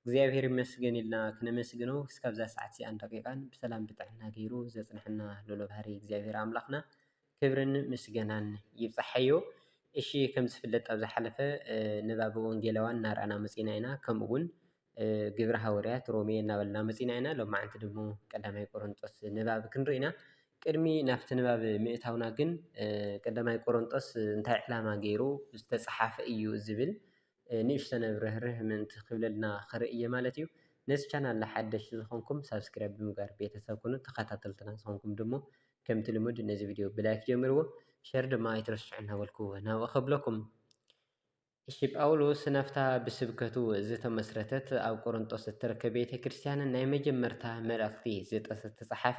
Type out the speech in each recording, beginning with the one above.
እግዚኣብሔር ይመስገን ኢልና ክነመስግኖ እስካብዛ ሰዓት እዚኣን ደቂቃን ብሰላም ብጥዕና ገይሩ ዘፅነሐና ልዑለ ባህሪ እግዚኣብሔር ኣምላክና ክብርን ምስገናን ይብፃሓዮ። እሺ ከምዝፍለጥ ኣብ ዝሓለፈ ንባብ ወንጌላውያን እናርኣና መፂና ኢና ከምኡ እውን ግብረ ሃወርያት ሮሜ እናበልና መፂና ኢና ሎማዓንቲ ድሞ ቀዳማይ ቆሮንጦስ ንባብ ክንርኢ ኢና። ቅድሚ ናብቲ ንባብ ምእታውና ግን ቀዳማይ ቆሮንጦስ እንታይ ዕላማ ገይሩ ዝተፅሓፈ እዩ ዝብል ንእሽተነ ርህርህ ምእንቲ ክብለልና ክርኢ እየ ማለት እዩ። ነዚ ቻናል ሓደሽቲ ዝኾንኩም ሳብስክራይብ ብምግባር ቤተሰብ ኩኑ ተኸታተልትና ዝኾንኩም ድሞ ከምቲ ልሙድ ነዚ ቪድዮ ብላይክ ጀምርዎ ሸር ድማ ኣይትረስዑ እናበልኩ ናብኡ ከብለኩም እሺ ጳውሎስ ናብታ ብስብከቱ ዝተመስረተት ኣብ ቆሮንጦስ እትርከብ ቤተ ክርስቲያን ናይ መጀመርታ መልእኽቲ ዝተጸሓፈ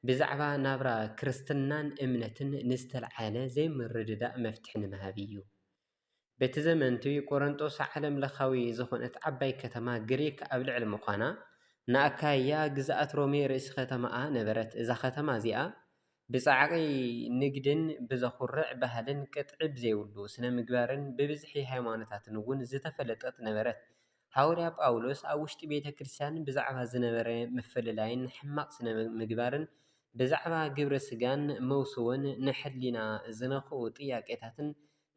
ብዛዕባ ናብራ ክርስትናን እምነትን ንዝተልዓለ ዘይምርድዳእ መፍትሒ ንምሃብ እዩ። በቲ ዘመን'ቲ ቈረንጦስ ዓለምለኻዊ ዝዀነት ዓባይ ከተማ ግሪኽ ኣብ ልዕሊ ምዃና፣ ንኣካይያ ግዝኣት ሮሜ ርእሲ ኸተማኣ ነበረት። እዛ ኸተማ እዚኣ ብጻዕቒ ንግድን ብዘዅርዕ ባህልን ቅጥዒ ብዘይብሉ ስነ-ምግባርን ብብዝሒ ሃይማኖታትን እውን ዝተፈለጠት ነበረት። ሃዋርያ ጳውሎስ ኣብ ውሽጢ ቤተ ክርስትያን ብዛዕባ ዝነበረ ምፍልላይን ሕማቕ ስነ-ምግባርን ብዛዕባ ግብረ ስጋን መውስቦን ንሕሊና ዝነኽኡ ጥያቄታትን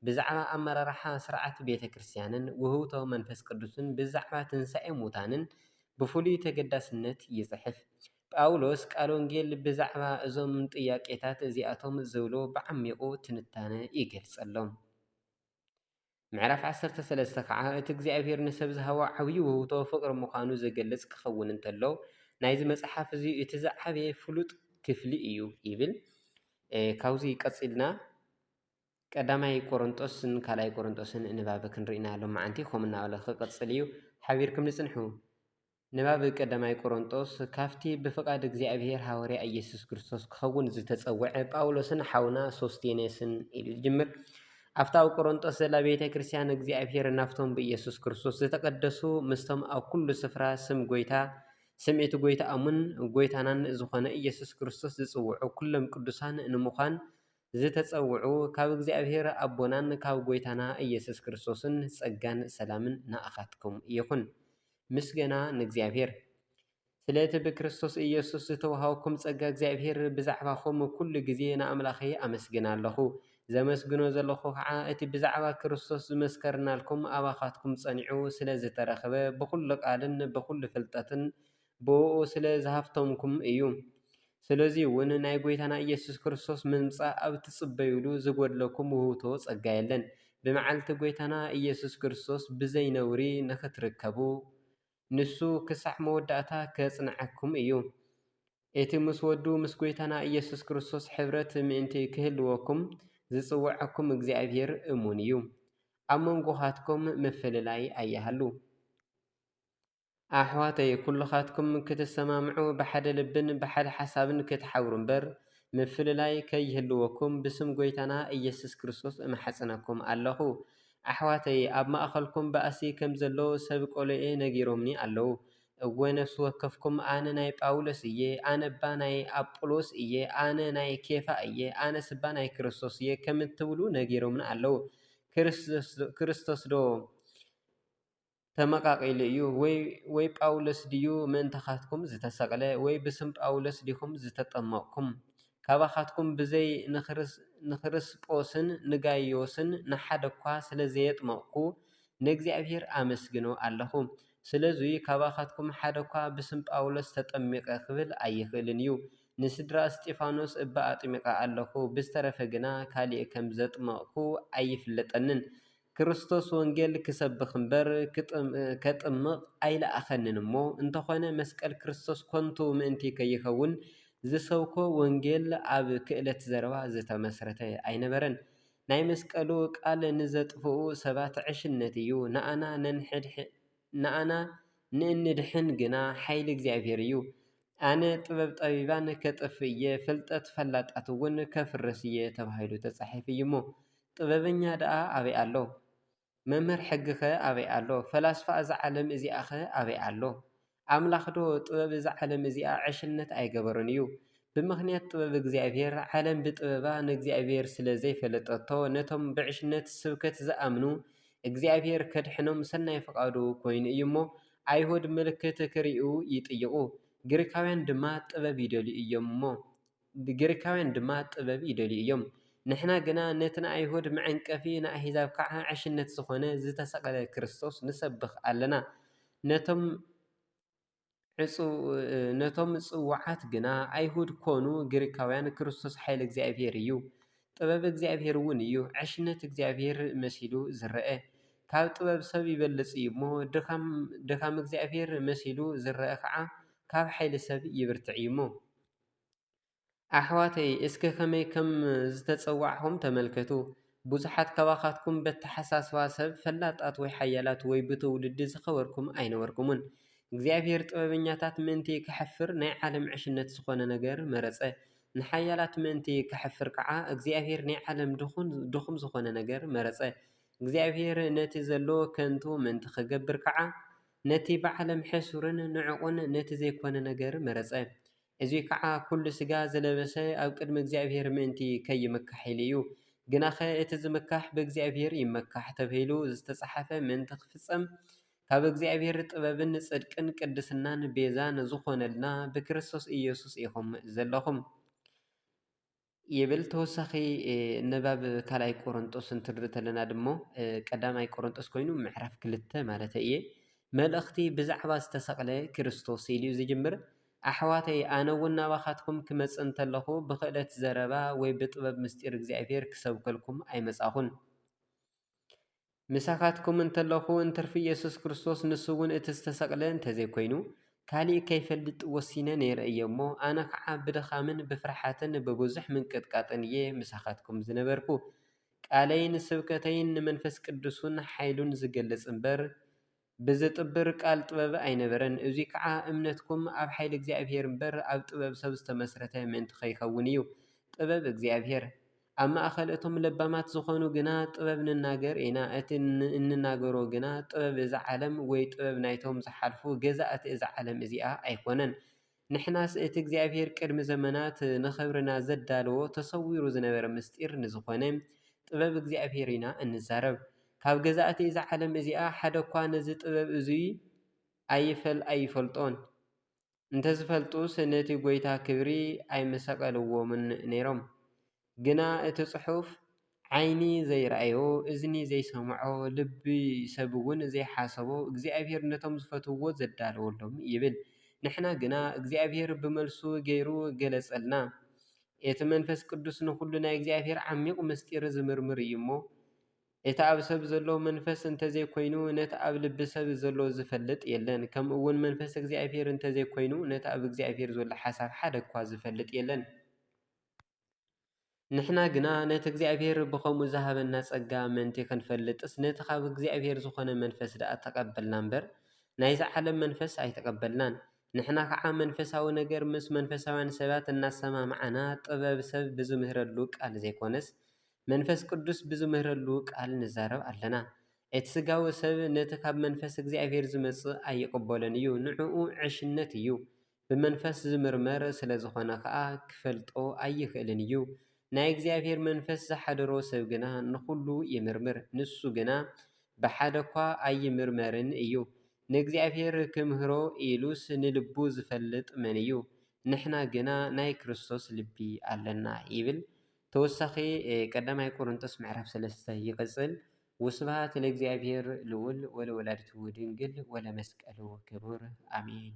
ብዛዕባ ኣመራርሓ ሥርዓት ቤተ ክርስቲያንን ውህብቶ መንፈስ ቅዱስን ብዛዕባ ትንሣኤ ሙታንን ብፍሉይ ተገዳስነት ይጽሕፍ። ጳውሎስ ቃል ወንጌል ብዛዕባ እዞም ጥያቄታት እዚኣቶም ዝብሎ ብዓሚቝ ትንታነ ይገልጸሎም። ምዕራፍ ዓሰርተ ሰለስተ ኸዓ እቲ እግዚኣብሔር ንሰብ ዝሃቦ ዓብዪ ውህብቶ ፍቕሪ ምዃኑ ዝገልጽ ክኸውን እንተሎ ናይዚ መጽሓፍ እዚ እቲ ዝዓበየ ፍሉጥ ክፍሊ እዩ ይብል። ካብዚ ቀጺልና ቀዳማይ ቆሮንጦስን ካልኣይ ቆሮንጦስን ንባብ ክንርኢ ኢና ሎማዓንቲ ከምኡ እናበለ ክቅፅል እዩ ሓቢርኩም ንፅንሑ ንባብ ቀዳማይ ቆሮንጦስ ካብቲ ብፍቃድ እግዚኣብሔር ሃወርያ እየሱስ ክርስቶስ ክኸውን ዝተፀወዐ ጳውሎስን ሓውና ሶስቴኔስን ኢሉ ዝጅምር ኣብታ ኣብ ቆሮንጦስ ዘላ ቤተ ክርስቲያን እግዚኣብሔር ናብቶም ብኢየሱስ ክርስቶስ ዝተቀደሱ ምስቶም ኣብ ኩሉ ስፍራ ስም ጎይታ ስም እቲ ጎይታኦምን ጎይታናን ዝኾነ ኢየሱስ ክርስቶስ ዝጽውዑ ኩሎም ቅዱሳን ንምዃን ዝተጸውዑ ካብ እግዚኣብሔር ኣቦናን ካብ ጎይታና ኢየሱስ ክርስቶስን ጸጋን ሰላምን ንኣኻትኩም ይኹን። ምስገና ንእግዚኣብሔር! ስለቲ ብክርስቶስ ኢየሱስ ዝተወሃበኩም ጸጋ እግዚኣብሔር ብዛዕባኹም ኩሉ ግዜ ንኣምላኸይ ኣመስግን ኣለኹ። ዘመስግኖ ዘለኹ ከኣ እቲ ብዛዕባ ክርስቶስ ዝመስከርናልኩም ኣባኻትኩም ጸኒዑ ስለዝተረኽበ ብኹሉ ቃልን ብኹሉ ፍልጠትን ብእኡ ስለ ዝሃፍተምኩም እዩ። ስለዙይ እውን ናይ ጐይታና ኢየሱስ ክርስቶስ ምምጻእ ኣብ እትጽበዩሉ ዝጐድለኩም ውህብቶ ጸጋ የለን። ብመዓልቲ ጐይታና ኢየሱስ ክርስቶስ ብዘይ ነውሪ ንኽትርከቡ ንሱ ክሳዕ መወዳእታ ከጽንዓኩም እዩ። እቲ ምስ ወዱ ምስ ጐይታና ኢየሱስ ክርስቶስ ሕብረት ምእንቲ ክህልወኩም ዝጽውዓኩም እግዚኣብሔር እሙን እዩ። ኣብ መንጎኻትኩም ምፍልላይ ኣይሃሉ። ኣሕዋተይ ኩልኻትኩም ክትሰማምዑ ብሓደ ልብን ብሓደ ሓሳብን ክትሓብሩ እምበር ምፍልላይ ከይህልወኩም ብስም ጎይታና ኢየሱስ ክርስቶስ እምሓጽነኩም ኣለኹ ኣሕዋተይ ኣብ ማእኸልኩም ባእሲ ከም ዘሎ ሰብ ቆሎኤ ነጊሮምኒ ኣለዉ እወ ነፍሲ ወከፍኩም ኣነ ናይ ጳውሎስ እየ ኣነባ ናይ ኣጵሎስ እየ ኣነ ናይ ኬፋ እየ ኣነስባ ናይ ክርስቶስ እየ ከምትብሉ ነጊሮምኒ ኣለዉ ክርስቶስዶ ተመቓቒሉ እዩ ወይ ወይ ጳውሎስ ድዩ ምእንታኻትኩም ዝተሰቕለ ወይ ብስም ጳውሎስ ዲኹም ዝተጠመቕኩም ካባኻትኩም ብዘይ ንክርስጶስን ንጋይዮስን ንሓደ እኳ ስለ ዘየጥመቕኩ ንእግዚኣብሔር ኣመስግኖ ኣለኹ ስለዙይ ካባኻትኩም ሓደ እኳ ብስም ጳውሎስ ተጠሚቐ ኽብል ኣይኽእልን እዩ ንስድራ እስጢፋኖስ እባ ኣጥሚቐ ኣለኹ ብዝተረፈ ግና ካልእ ከም ዘጥመቕኩ ኣይፍለጠንን ክርስቶስ ወንጌል ክሰብኽ እምበር ከጥምቕ ኣይለኣኸንን እሞ፣ እንተኾነ መስቀል ክርስቶስ ኮንቱ ምእንቲ ከይከውን ዝሰብኮ ወንጌል ኣብ ክእለት ዘረባ ዝተመስረተ ኣይነበረን። ናይ መስቀሉ ቃል ንዘጥፍኡ ሰባት ዕሽነት እዩ፣ ንኣና ንእንድሕን ግና ሓይሊ እግዚኣብሔር እዩ። ኣነ ጥበብ ጠቢባን ከጥፍእ እየ ፍልጠት ፈላጣት እውን ከፍርስ እየ ተባሂሉ ተፃሒፉ እዩ እሞ ጥበበኛ ደኣ ኣበይ ኣሎ? መምህር ሕጊ ከ ኣበይ ኣሎ? ፈላስፋ እዛ ዓለም እዚኣ ከ ኣበይ ኣሎ? ኣምላኽ ዶ ጥበብ እዛ ዓለም እዚኣ ዕሽነት ኣይገበሮን እዩ? ብምኽንያት ጥበብ እግዚኣብሄር ዓለም ብጥበባ ንእግዚኣብሄር ስለ ዘይፈለጠቶ ነቶም ብዕሽነት ስብከት ዝኣምኑ እግዚኣብሄር ከድሕኖም ሰናይ ፍቓዱ ኮይኑ እዩ እሞ ኣይሁድ ምልክት ኺርእዩ ይጥይቑ፣ ግሪኻውያን ድማ ጥበብ ይደልዩ እዮም እሞ ግሪኻውያን ድማ ጥበብ ይደልዩ እዮም። ንሕና ግና ነቲ ንኣይሁድ መዐንቀፊ ንኣህዛብ ከኣ ዕሽነት ዝኾነ ዝተሰቕለ ክርስቶስ ንሰብኽ ኣለና። ነቶም ጽውዓት ግና ኣይሁድ ኮኑ ግሪኻውያን ክርስቶስ ሓይሊ እግዚኣብሔር እዩ። ጥበብ እግዚኣብሔር እውን እዩ ዕሽነት እግዚኣብሔር መሲሉ ዝረኣ ካብ ጥበብ ሰብ ይበልፅ እዩ እሞ ድካም እግዚኣብሔር መሲሉ ዝረኣ ከዓ ካብ ሓይሊ ሰብ ይብርትዕ እዩ እሞ ኣሕዋተይ እስከ ከመይ ከም ዝተፀዋዕኩም ተመልከቱ ብዙሓት ካባካትኩም በተሓሳስባ ሰብ ፈላጣት ወይ ሓያላት ወይ ብትውልዲ ዝከበርኩም ኣይነበርኩምን እግዚኣብሔር ጥበበኛታት ምእንቲ ከሕፍር ናይ ዓለም ዕሽነት ዝኮነ ነገር መረፀ። ንሓያላት ምእንቲ ኼሕፍር ከኣ፣ እግዚኣብሄር ናይ ዓለም ድኹም ዝዀነ ነገር መረጸ። እግዚኣብሄር ነቲ ዘሎ ኸንቱ ምእንቲ ኺገብር ከኣ፣ ነቲ ብዓለም ሕሱርን ንዕቕን ነቲ ዘይኰነ ነገር መረጸ። እዙይ ከኣ ኵሉ ስጋ ዝለበሰ ኣብ ቅድሚ እግዚኣብሄር ምእንቲ ኸይምካሕ ኢሉ እዩ። ግናኸ እቲ ዚምካሕ ብእግዚኣብሄር ይመካሕ ተብሂሉ ዝተጻሕፈ ምእንቲ ኺፍጸም ካብ እግዚኣብሔር ጥበብን ጽድቅን ቅድስናን ቤዛ ንዝኾነልና ብክርስቶስ ኢየሱስ ኢኹም ዘለኹም ይብል ተወሳኺ ንባብ ካልኣይ ቆሮንጦስ እንትንሪ ተለና ድሞ ቀዳማይ ቆሮንጦስ ኮይኑ ምዕራፍ ክልተ ማለት እየ መልእኽቲ ብዛዕባ ዝተሰቕለ ክርስቶስ ኢሉ እዩ ዝጅምር ኣሕዋተይ ኣነ እውን ናባኻትኩም ክመጽእ እንተለኹ ብክእለት ዘረባ ወይ ብጥበብ ምስጢር እግዚኣብሔር ክሰብከልኩም ኣይመጻኹን ምሳካትኩም እንተለኹ እንትርፊ ኢየሱስ ክርስቶስ ንሱ እውን እቲ ዝተሰቅለ እንተዘይኮይኑ ካሊእ ከይፈልጥ ወሲነ ነይረ እየ እሞ ኣነ ከዓ ብድኻምን ብፍርሓትን ብብዙሕ ምንቅጥቃጥን እየ ምሳካትኩም ዝነበርኩ ቃለይን ስብከተይን ንመንፈስ ቅዱሱን ሓይሉን ዝገልፅ እምበር ብዘጥብር ቃል ጥበብ ኣይነበረን፣ እዙይ ከዓ እምነትኩም ኣብ ሓይሊ እግዚኣብሄር እምበር ኣብ ጥበብ ሰብ ዝተመስረተ ምእንቲ ኸይከውን እዩ። ጥበብ እግዚኣብሄር። ኣብ ማእኸል እቶም ለባማት ዝኾኑ ግና ጥበብ ንናገር ኢና፣ እቲ እንናገሮ ግና ጥበብ እዛ ዓለም ወይ ጥበብ ናይቶም ዝሓልፉ ገዛእቲ እዛ ዓለም እዚኣ ኣይኮነን። ንሕናስ እቲ እግዚኣብሄር ቅድሚ ዘመናት ንኽብርና ዘዳለዎ ተሰዊሩ ዝነበረ ምሥጢር ንዝኾነ ጥበብ እግዚኣብሄር ኢና እንዛረብ። ካብ ገዛእቲ እዛ ዓለም እዚኣ ሓደኳ ነዚ ጥበብ እዙይ ኣይፈል ኣይፈልጦን። እንተዝፈልጡስ ነቲ ጐይታ ክብሪ ኣይምሰቀልዎምን ነይሮም። ግና እቲ ጽሑፍ ዓይኒ ዘይረኣዮ እዝኒ ዘይሰምዖ ልቢ ሰብ እውን ዘይሓሰቦ እግዚኣብሄር ነቶም ዝፈትውዎ ዘዳለወሎም እዩ ይብል። ንሕና ግና እግዚኣብሄር ብመልሱ ገይሩ ገለጸልና። እቲ መንፈስ ቅዱስ ንኹሉ ናይ እግዚኣብሄር ዓሚቕ ምስጢር ዝምርምር እዩ እሞ እቲ ኣብ ሰብ ዘሎ መንፈስ እንተዘይኮይኑ ነቲ ኣብ ልቢ ሰብ ዘሎ ዝፈልጥ የለን ከምኡ እውን መንፈስ እግዚኣብሄር እንተዘይኮይኑ ነቲ ኣብ እግዚኣብሄር ዘሎ ሓሳብ ሓደኳ ዝፈልጥ የለን። ንሕና ግና ነቲ እግዚኣብሔር ብኸምኡ ዝሃበና ጸጋ ምእንቲ ኽንፈልጥስ ነቲ ኻብ እግዚኣብሔር ዝኾነ መንፈስ ደኣ ተቐበልና እምበር፣ ናይዚ ዓለም መንፈስ ኣይተቐበልናን። ንሕና ኸዓ መንፈሳዊ ነገር ምስ መንፈሳውያን ሰባት እናሰማምዓና ጥበብ ሰብ ብዚምህረሉ ቃል ዘይኮነስ መንፈስ ቅዱስ ብዚምህረሉ ቃል ንዛረብ ኣለና። እቲ ሥጋዊ ሰብ ነቲ ኻብ መንፈስ እግዚኣብሔር ዚመጽእ ኣይቕበሎን እዩ፣ ንእኡ ዕሽነት እዩ። ብመንፈስ ዚምርመር ስለ ዝዀነ ኸኣ ኺፈልጦ ኣይክእልን እዩ። ናይ እግዚኣብሄር መንፈስ ዝሓደሮ ሰብ ግና ንዅሉ ይምርምር፣ ንሱ ግና ብሓደ እኳ ኣይምርመርን እዩ። ንእግዚኣብሄር ኪምህሮ ኢሉስ ንልቡ ዚፈልጥ መን እዩ? ንሕና ግና ናይ ክርስቶስ ልቢ ኣለና ይብል። ተወሳኺ ቀዳማይ ቈረንቶስ ምዕራፍ ሰለስተ ይቕጽል፣ ወስብሃት ለእግዚኣብሔር ልዑል ወለወላዲቱ ድንግል ወለመስቀሉ ክቡር ኣሜን።